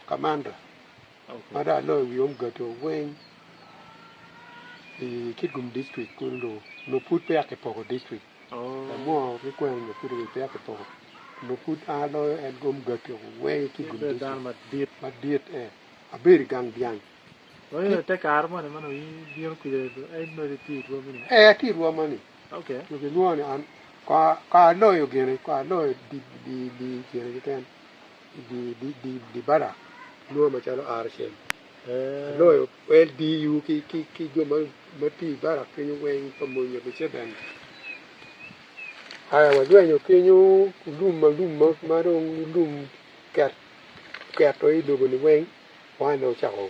Kamanda ma dong aloyo i wi omgato weng i Kitgum district kunu dong nongo pud peya kipoko district lamwongo ki kwena nyo pud eni peya kipoko nongo pud an aloyo en ki omgato weng i Kitgum district madit ee abedo i gang dyang ee atye i rwom moni. Dok gilwonga ni an kong aloyo gini, kong aloyo gin keken, di bada kilwongo macalo RCM, aloyo LDU ki jo ma tye i bada kenyo weng pa mony nyo Museveni. Aya walwenyo kenyo lum ma lum ma dong lum oketo i lobo ni weng, wano ocako.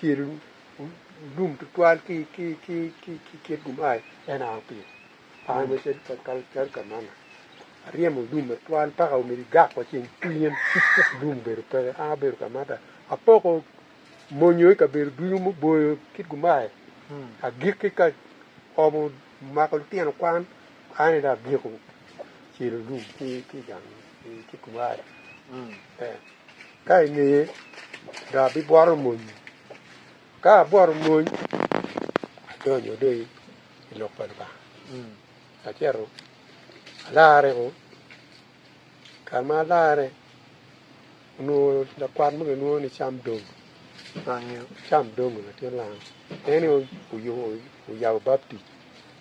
Cel lum tutwal ki kit gumayi en a pi kare macel calo kamana. Aryemo lum atwal mpaka omyero igak wa ceng cwinyen lum obedo peke. An abedo ka mata apoko monyo i kabedo ducu muboyo kit gumayi agikki ka omo mako lutino kwan An aye dong abyeko cilo lum ki i gang cikuwaya. Ka i ngeye dong abibworo mony. Ka abworo mony, adonyo dong i lok pa Lubanga, acito alarre o. Kare ma alarre, onongo lakwat mo kilwongo ni Cam Dongo, Cam Dongo latin langa, en aye oyabo baptic.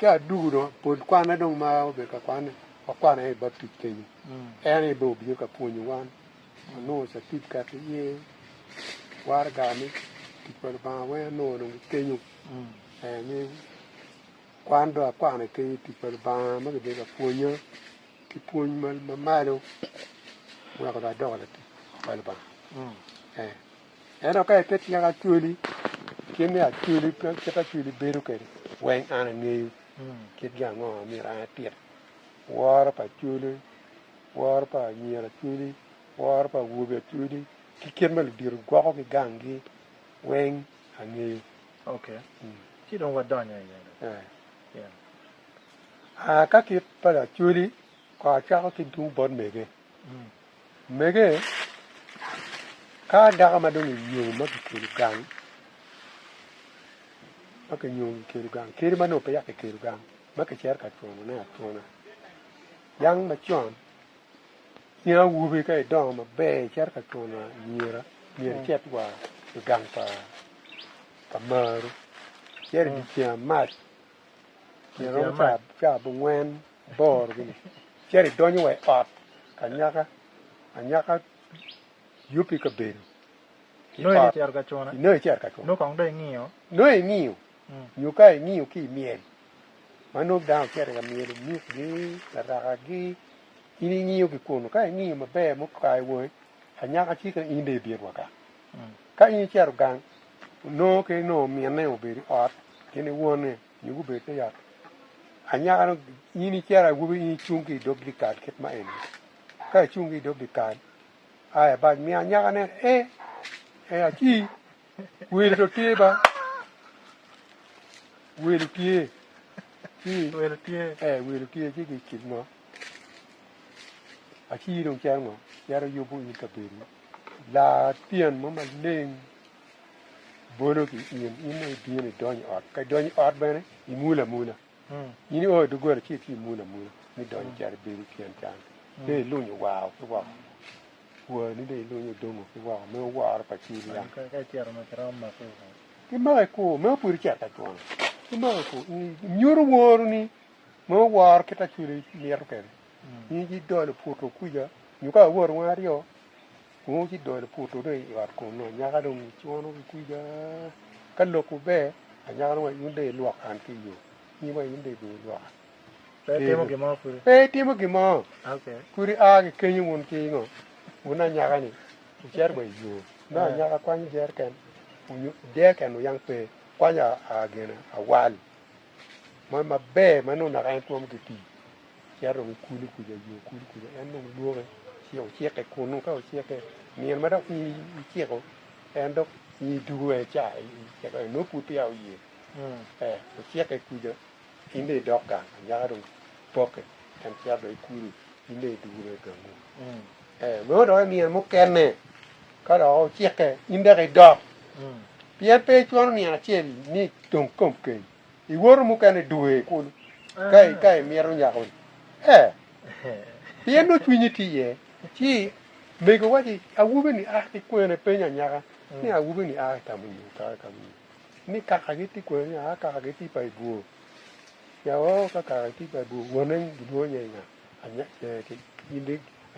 Ka adugu dong apol kwana dong ma obedo ka kwane, wakwano aye i baptic kenyo. En aye bene obino ka pwonyo wan, wanongo catipkat iye, waraga me tic pa Lubanga weng anongo dong ki kenyo. Ni kwan dong akwano kenyo i tic pa Lubanga ma kibedo ka pwonya ki pwony mamalo, weko dong adoko latic pa Lubanga. Ento ka ipet nyaka actually kit me actually kit actually bedo kede weng an angeyo kit gi ango ma myero an atit woro pa actually woro pa anyira actually woro pa awobe actually ki kit ma ludito gwoko ki gang gi weng angeyo okay ci dong wadonyo iye aa ka kit pa actually kor acako ki tung bot mege. Omege, ka dako ma dong onyongo ma kikelo gang, ma kinyongo kikelo gang, kadi ma nongo peya kikelo gang, ma kicito ka cwanone acwana, dano macon, in awobi ka idongo maber icito ka cwano anyira, myero icit wa i gang pa pa marwu, icit i dye ceng amac, myero romo ca abongwen iborogi-ni, cito idonyo wa i ot anyaka anyaka yubbi i kabedo, inongo icito ka cune, inongo ingiyo nyo ka ingiyo ki i myel ma nongo dano ocito ka myelo mikgi, larakagi, in ingiyo ki kunu ka ingiyo maber ma okayo wangi anyaka ci ka in dong ibit wa gang, ka in icito gang nongo ki nongo minne obedo i ot gin ki wonne. Nyo gubed ka yat anyaka-nu. In iciro awobi, in icung ki i dog dyekal kit ma eni. Ka icung ki i dog dyekal, a ibac mi anyaka nen, E, e, aci, welo dong tye ba. Welo tye. Ci, welo tye. E, welo tye, ci gicik mo. Aci dong cito ngo? Cito yubo in kabedo. Lar tyen mo maleng. bolo ki in, in dong ibino idonyo i ot, ka idonyo i ot bene imulo amula. Hmm. In io i doggola ci itye imulo amula ni idonyo calo ibedo i tyen can. Hmm. Dong ilunyo wao ki woko. Wani dong ilunyo dongo ki woko me oworo pa cil yam. Kimako i kur, meno pud icito ka cwano. Kimako i kur, nyuto woro ni me oworo kit acwili mito kene. Hmm. In idolo puto kuja, nyo ka aworo wang aryo, Wungu ci dol oputo dong i ot kunnu, anyaka dong icwono ki kwija. Ka lokwu ber, anyaka dong in dong ilwok an ki i yo, nyi wa in dong ibin ilwoka. Pe itimo gin mo kudi? Pe itimo gin mo. Kudi a ki kenyo wun ki ngo, wun anyaka-ni wucito wa i yo. Nongo anyaka kwanyo jeriken onyo deken wuyang pe, kwanyo gin awal mo maber ma nongo naka en twomo ki pii. Cito ki kulu kuca jo kulu kuca, en dong dwoke ci ocikke kunnu. Ka ocikke, nino ma dok piny iciko, en dok nyi dugu en ca iciko, nongo pud peya oye. Eh, ocikke kuca, in dong idok gang, anyaka dong pokke, en cito dong i kulu, in dong idugu dong i gangu. Eh, nongo dok i nino mukene, ka dok ocikke, in dok idok. Pien pe icwano nino acel ni dong kom keny. Iwoto mukene dwe kulu ka imito nyako-ni? Ee, pien nongo cwinyi tye iye. Ci mego wacci, 'Awobeni a ki kwene? Penyo anyaka ni, 'Awobeni a i ka munyi? Otokke i ka munyi? Ni, 'Kakagi tye kwene? Ni, 'Aa, kakagi tye pa i bwor. Ca, Oo, ka kakagi tye pa i bwor, wone gilwongo nyinge nga?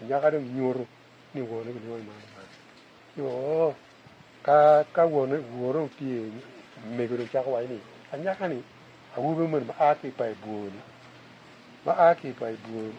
Anyaka dong inyuto ni wone gilwongo ni man ki man. Ci, Oo, Ka ka wone wore otye megone cako waco ni, Anyaka-ni, awobi moni ma a ki i payo bwor-ri, ma a ki i payo bwor-ri.